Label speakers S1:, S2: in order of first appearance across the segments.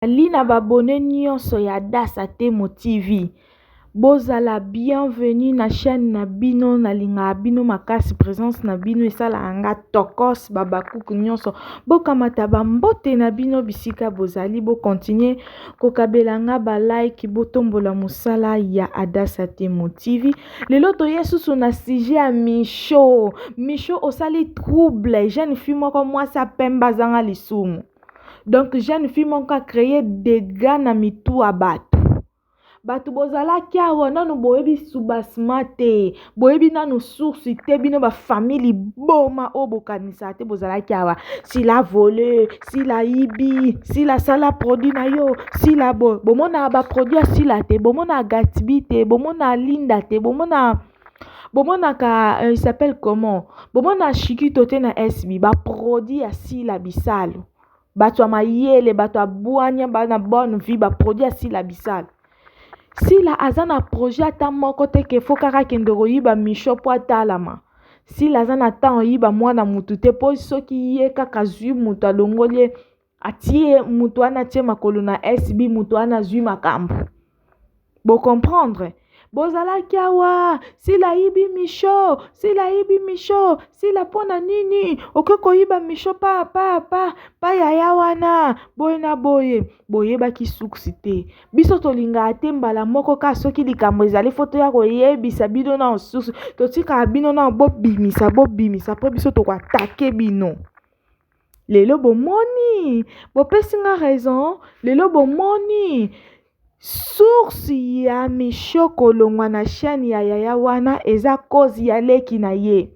S1: Nazali na b'abonnes nionso ya Dasa Temo TV bozala bienvenue na chaine na bino nalingaka bino makasi presence na bino esalaka nga tokoss b'habacuc nionso bokamata ba mbote na bino bisika bozali bo continuer kokabela nga ba like botombola mosala ya Adasa Temo TV lelo toye susu na sujet ya Michaux Michaux osali trouble jeune fille moko mwasi ya pembe azanga lisumu donc jeune fille moko a cree dega na mitu ya bato bato bozalaki awa nano boyebi subasma te boyebi nano source te bino bafamille liboma oyo bokanisaka te bozalaki awa sila vole sila yibi sila sala produit na yo sila bo bomonaka baproduit ya sila te bomonaka gatbi te bomonaka linda te bomonaka bomonaka euh, il s'appelle comment bomona shikito te na sb baproduit ya sila bisalu bato ya mayele bato ya bwanya bana bonne vie baproduit ya sila bisalu sila aza na projet ata moko te ke fo kaka kende koyiba misho mpo atalama sila aza na temps oyiba mwana mutu te mpo soki ye kaka azwi moto alongoli ye atie moto wana atie makolo na SB moto wana azwi makambo bocomprendre bozalaki awa sila ayibi misho sila ayibi misho sila mpo na nini oke koyiba misho pa pa pa pa yaya wana boye na boye boyebaki suksi te biso tolingaka te mbala moko kaka soki likambo ezali fo toya koyebisa bino na osusu totikaka bino na bobimisa bobimisa mpo biso tokoatake bino Lelo bomoni, bopesi nga raison, lelo bomoni. Source ya Michaux kolongwa na chaîne ya yaya wana eza cause ya leki na ye.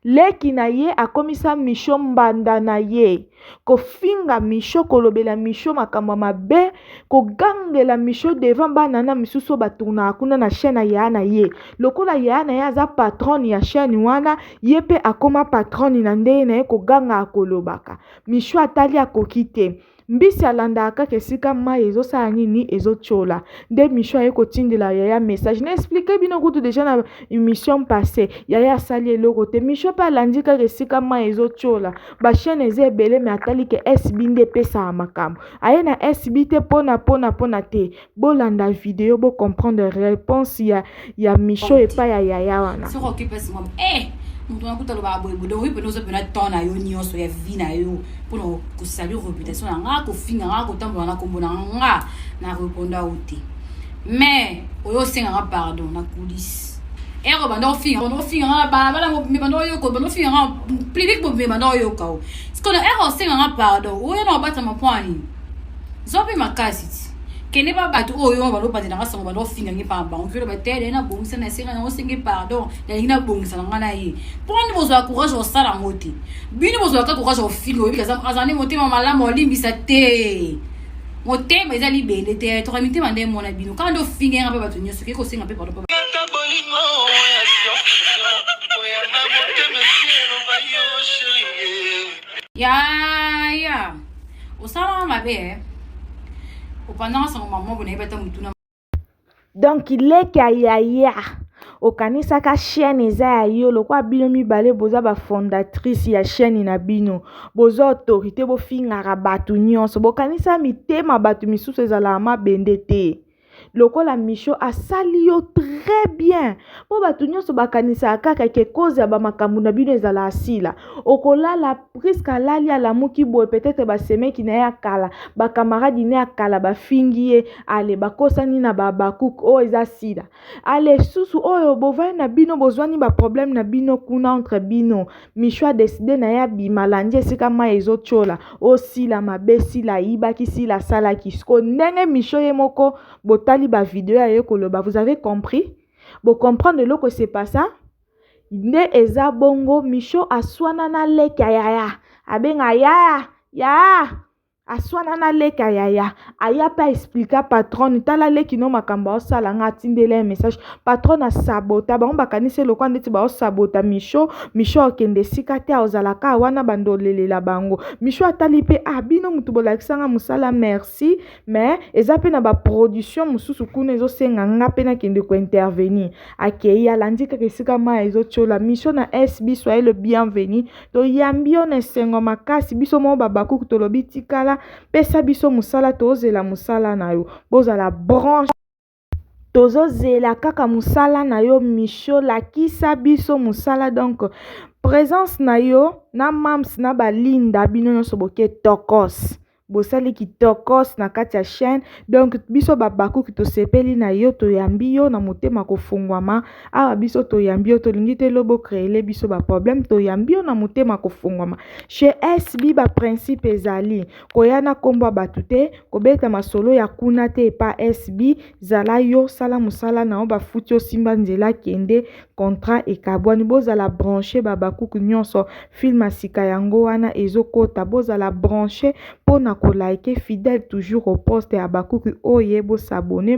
S1: Leki na ye akomisa Michaux mbanda na ye. Kofinga Michaux, kolobela Michaux makambo ya mabe, kogangela Michaux devant bana na misusu oyo batournaka kuna na chaîne ya yaya na ye. Lokola yaya na ye aza patronne ya chaîne wana, Ye pe akoma patronne na ndenge na ye koganga akolobaka. Michou atali akoki te. Mbisi alandaka kaka esika mayi ezo sala nini ezo tshola. Nde Michou aye kotindela yaya message. Na expliquer bino kutu dejà na emission passe. Yaya asali eloko te. Michou pe alandi kaka esika mayi ezo tshola. Ba chaine eza ebele mais atali ke SB nde epesaka makambo. Aye na SB te pona pona pona te. bolanda video bo comprendre réponse ya ya micho epai ya yaya wana soki okipesi mwa
S2: eh moto wana kuta lobaka boye boye donc oyo mpena ozopena temps na yo nyonso ya vie na yo mpona kosalir reputation na nga kofinga nga kotambola na nkombo na nga na reponda yo te mais oyo osenga nga pardon na coulisse ero eh, banda ofinga banda ofinga nga na balabala mobimbe banda oyoka banda ofinga nga public mobimbe banda oyoka o sikono ero eh, osenga nga pardon oyo na obatama mpo ya nini zope makasi ti kende ba bato oyo wana balobande na nga sango banda ofinga nge mpamba bango mpe oloba tele na bongisa na esenga yango osenge pardon nalingi na bongisa na nga na ye mpo nini bozwa courage osala yango te bino bozwaka courage ofinga oyebi azali motema malamu olimbisa te motema eza libende te toka mitema nde emona bino kaka nde ofinga yanga mpe bato nyonso oke kosenga mpe pardon ya ya osalaka mabe eh. opandaka sango
S1: mamobo nayebi ata motuna donk leki ya yaya okanisaka chaîne eza ya yo lokola bino mibale boza bafondatrice ya chaîne na bino boza autorité bofingaka bato nyonso bokanisa mitema bato misusu ezalaka mabende te lokola misho asali yo très bien mpo bato nyonso bakanisaka kaka ke cause ya bamakambo na bino ezala asila okolala priske alali alamuki boye peut-etre basemeki na ye ya kala bakamaradi ne ya kala bafingi ye ale bakosani na baabakuk oyo eza sila ale susu oyo bovandi na bino bozwani baproblème na bino kuna entre bino Michou a decide na ye abima alandi esika mai ezotiola o sila mabe sila ayibaki sila asalaki siko ndenge Michou ye moko botali ba video aye koloba vous avez compris bocomprendre eloko se passa nde eza bongo Michou aswana na leki ya yaya abenga yaya yaya Aswana na leka yaya aya pe a explika patronne tala leki no makambo aosala nga atindeli ye message patronne asabota bango bakanisi ye lokola ndeti baosabota misho misho akende esika te aozala kaka wana banda olelela bango misho atali pe ah bino mutu bolakisa nga mosala merci mais eza pe na ba production mosusu kuna ezosenga nga pe nakende ko intervenir akei alandi kaka esika mai ezotiola misho na sb soyez le bienvenu Toyambi yo na esengo makasi biso moko babakuku tolobi tikala pesa biso mosala tozela mosala na yo bozala branche tozozela kaka mosala na yo micho lakisa biso mosala donc présence na yo na mams na balinda bino nyonso boke tokos Bosali kitokoos na kati ya chaine donc biso ba bakuki tosepeli na yo toyambi yo na motema kofungwama awa biso toyambi yo tolingi te lobo creele biso ba problème toyambi yo na motema kofungwama chez SB ba principe ezali koya na kombo ya bato te kobeta masolo ya kuna te epa SB Zala yo sala musala na yo bafuti yo simba nzela kende contrat ekabwani bozala branche ba bakuku nyonso film ya sika yango wana ezokota bozala branche mpo na ko like fidèle toujours au poste ya bakuku oyo ye bosabone